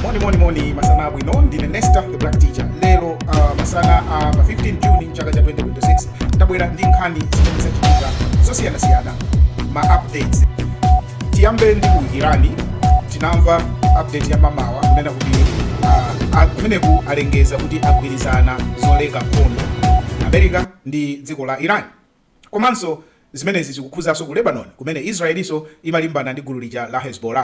moni moni moni masana abwino ndine nesta the black teacher lero uh, masana a uh, pa 15 juni mchaka cha 2026 tabwera ndi nkhani zimene zachitika zosiyanasiyana ma updates tiyambe ndi ku irani tinamva update ya mamawa kunena kuti uh, kumeneku alengeza kuti agwirizana zoleka nkhondo america ndi dziko la iran komanso zimenezi zikukhuzanso ku lebanon kumene israelinso imalimbana ndi gulu lija la hezbollah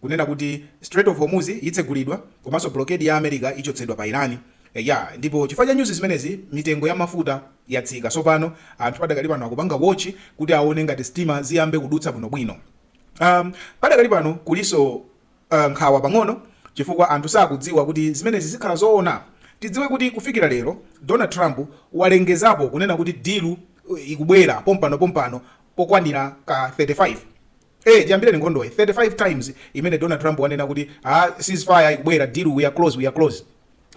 kunena kuti Strait of Hormuz itsegulidwa komanso blockade ya America ichotsedwa pa Iran. Eya, ndipo chifukwa cha news zimenezi mitengo ya mafuta yatsika. Tsopano anthu padakali pano akupanga watch kuti aone ngati sitima ziyambe kudutsa bwino bwino. Um, padakali pano kuliso uh, nkhawa pang'ono chifukwa anthu sakudziwa kuti zimenezi zikhala zoona. Tidziwe kuti kufikira lero Donald Trump walengezapo kunena kuti deal uh, ikubwera pompano pompano pokwanira ka 35 ee chiyambireni nkhondoyi 35 times imene Donald Trump wanena kuti aa ceasefire ikubwera deal we are close we are close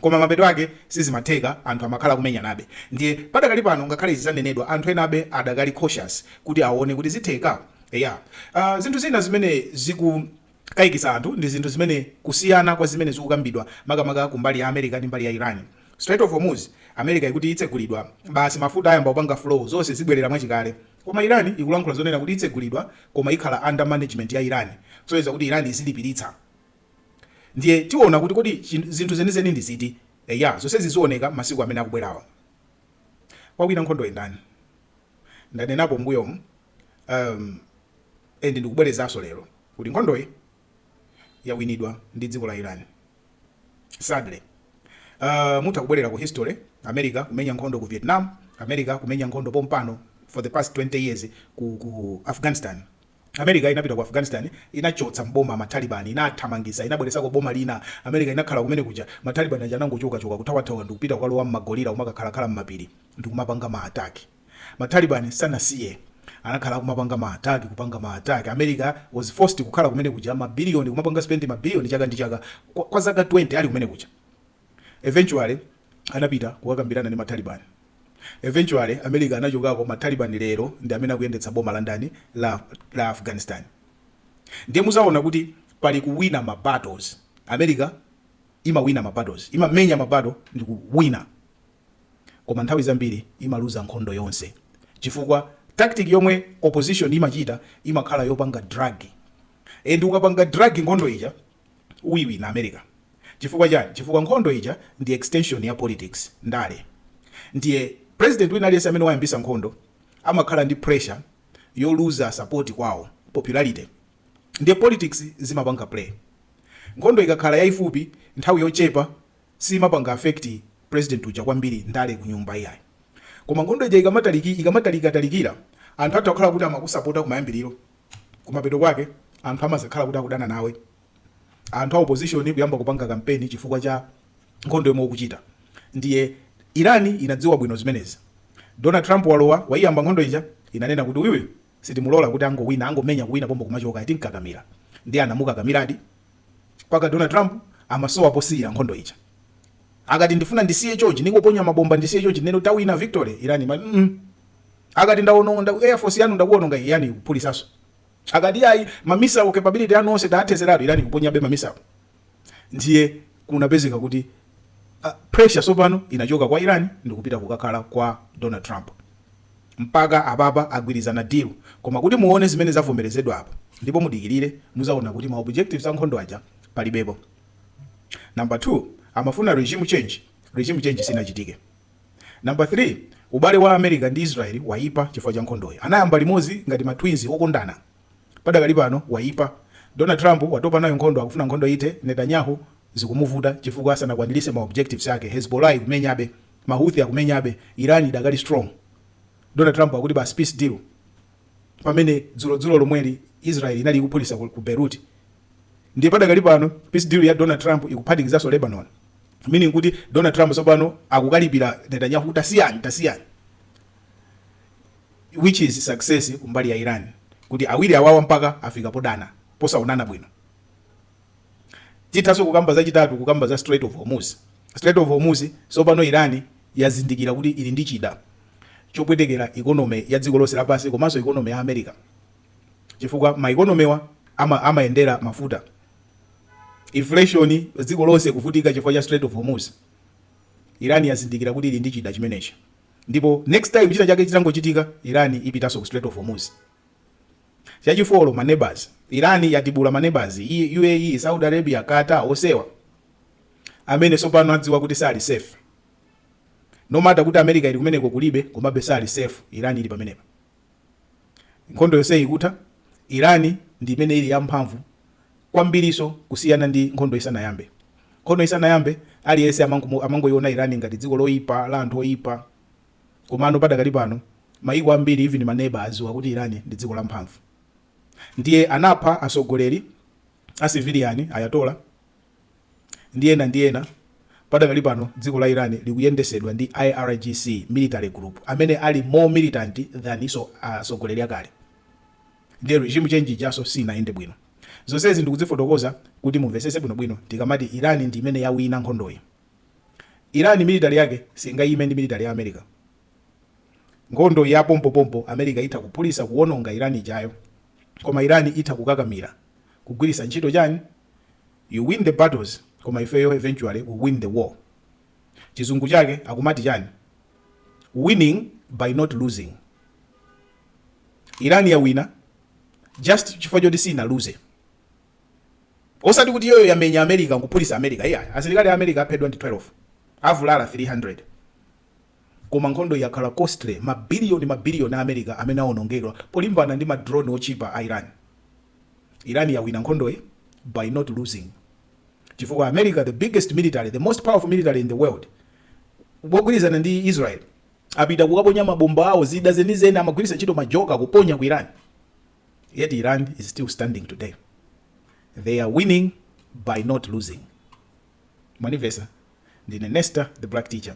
koma mapeto ake sizimatheka anthu amakhala akumenyanabe ndiye padakali pano ngakhale izi zanenedwa anthu enabe adakali cautious kuti aone kuti zitheka eya uh, zinthu zina zimene zikukaikisa anthu ndi zinthu zimene kusiyana kwa zimene zikukambidwa makamaka kumbali ya america ndi mbali ya iran Strait of Hormuz America ikuti itsegulidwa basi mafuta ayamba kupanga flow zonse zibwerera mwachikale Koma Iran ikulankhula zonena kuti itsegulidwa koma ikhala under management ya Iran kusonyeza kuti Iran izilipiritsa ndiye tiona kuti kodi zinthu zenizeni ndi ziti eya zonsezi zioneka masiku amene akubwerawa wawina nkhondoyi ndani ndanenapo mbuyomu um, and ndikubwerezaso lero kuti nkhondoyi yawinidwa ndi dziko la Iran sadly uh, mutha kubwerera ku history america kumenya nkhondo ku vietnam america kumenya nkhondo pompano for the past 20 years ku, ku afghanistan america inapita ku afghanistan inachotsa mboma matalibani inathamangisa inabweresako boma lina america inakhala kumene kuja matalibani aja anangochokachoka kuthawathawa ndikupita kukalowa mma guerrilla umakakhalakhala mmapiri ndikumapanga ma attack Ma Taliban sanasiye. Anakhala akumapanga ma attack kupanga ma attack. America was forced kukhala kumene kuja ma billion kumapanga spend ma billion chaka ndi chaka kwa kwa zaka 20 ali kumene kuja. Eventually anapita kukakambirana ndi ma Taliban. Eventually America anachokako ma Taliban lero ndi amene akuyendetsa boma la ndani? La la Afghanistan. Ndiye muzaona kuti pali kuwina ma battles. America. imawina ma battles, imamenya ma battle ndikuwina koma nthawi zambiri imaluza nkhondo yonse chifukwa tactic yomwe opposition imachita imakhala yopanga drag and ukapanga drag nkhondo ija uyiwina America chifukwa chani? chifukwa nkhondo ija ndi extension ya politics, ndale, ndiye president wina aliyense amene wayambisa nkhondo amakhala ndi pressure yoluza support kwawo, popularity. ndiye politics zimapanga play. Nkhondo ikakhala yaifupi, nthawi yochepa, simapanga affect president uja kwambiri ndale kunyumba iyayi. Koma nkhondo ija ikamataliki, ikamatalika talikira, anthu atha kukhala kuti amakusapota kumayambiriro, kumapeto kwake anthu amazakhala kuti akudana nawe. Anthu a opposition kuyamba kupanga kampeni chifukwa cha nkhondo yomwe ukuchita. Ndiye Iran inadziwa bwino zimenezi. Donald Trump walowa, waiyamba nkhondo ija, inanena kuti uyuyu Sitimulola kuti angowina, angomenya kuwina pompo kumachoka ayi, timukakamira ndiye anamukakamiradi mpaka Donald Trump amasowa posiyira nkhondo ija. Akati ndifuna ndisiye chochi, ndingoponya mabomba ndisiye chochi tinene kuti tawina victory, Iran imati mm akati ndawononga Air Force yanu ndakuwononga iyi Iran ikuphulisanso. Akati ayi ma missile capability anu onse taathezeratu, Iran ikuponyabe ma missile. Ndiye kunapezeka kuti a, pressure tsopano inachoka kwa Iran ndikupita kukakhala kwa Donald Trump. Mpaka apapa agwirizana deal. Koma kuti muone zimene zavomerezedwa apa, ndipo mudikilire, muzaona kuti ma objectives a nkhondo aja palibepo. Number 2, amafuna regime change, regime change sinachitike. Number 3, ubale wa America ndi Israel waipa chifukwa cha nkhondoyi. Anayamba limodzi ngati ma twins okondana. Padakali pano waipa. Donald Trump watopa nayo nkhondo akufuna nkhondo ithe, Netanyahu zikumuvuta chifukwa sanakwanirise ma objectives ake, Hezbollah ikumenyabe, ma Houthi akumenyabe, Iran idakali strong. Donald Trump akuti basi peace deal pamene dzulo dzulo lomweli Israel inali ikuphulisa ku ku Beirut. Ndiye padakali pano peace deal ya Donald Trump ikuphatikizaso Lebanon meaning kuti Donald Trump tsopano akukalipira Netanyahu kuti tasiyani tasiyani. which is success kumbali ya Iran kuti awiri awawa mpaka afika podana posaonana bwino. Tithaso kukamba zachitatu kukamba za Strait of Hormuz. Strait of Hormuz sopano Iran yazindikira kuti ili ndi chida chopwetekera economy ya dziko lonse lapansi komanso economy ya America chifukwa ma economy awa ama, amayendera mafuta inflation dziko lonse kuvutika chifukwa cha Strait of Hormuz. Iran yazindikira kuti ili ndi chida chimenechi. ndipo next time china chake chitangochitika iran ipitaso ku strait of hormuz chachifolo ma neighbors iran yatibula ma neighbors uae saudi arabia qatar onsewa amene sopano adziwa kuti sali safe no matter kuti america ili kumeneko kulibe komabe sali safe iran ili pamenepa Nkhondo yonseyi ikutha, Iran ndi imene ili yamphamvu kwambirinso kusiyana ndi nkhondo isanayambe. Nkhondo isanayambe, aliyense amangoiona Iran ngati dziko loipa, la anthu oipa. Komano padakali pano, mayiko ambiri, even maneba, adziwa kuti Iran ndi dziko lamphamvu. Ndiye anapha atsogoleri a civilian, Ayatollah. ndi ena ndi ena, padakali pano dziko la Iran likuyendesedwa ndi IRGC military group amene ali more militant than atsogoleri akale ndiye regime change ijaso sinayende bwino. Zonsezi ndikuzifotokoza kuti mumvesese bwino bwino tikamati Iran ndi imene yawina nkhondoyi. Iran military yake singayime ndi military ya America. Nkhondo ya pompo pompo America itha kuphulisa kuwononga Iran ijayo. Koma Iran itha kukakamira kugwirisa ntchito chani You win the battles koma ifeyo eventually we win the war. Chizungu chake akumati chani? Winning by not losing. Iran yawina just chifukwa choti siinaluze. Osati kuti iyoyo yamenya America nkuphulisa America. Iyayi, asilikali a America aphedwa ndi 12. Avulala 300. Koma nkhondoyi yakhala costly, ma billion ma billion a America amene awonongedwa polimbana ndi ma drone otchipa a Iran. Iran yawina nkhondoyi by not losing chifukwa America the biggest military, the most powerful military in the world mogwirizana ndi Israel apita kukaponya ma bomba awo zida zenizeni amagwiritsa ntchito ma joker kuponya ku Iran yet Iran is still standing today. They are winning by not losing. Mwandimvesa? Ndine Nesta the Black Teacher.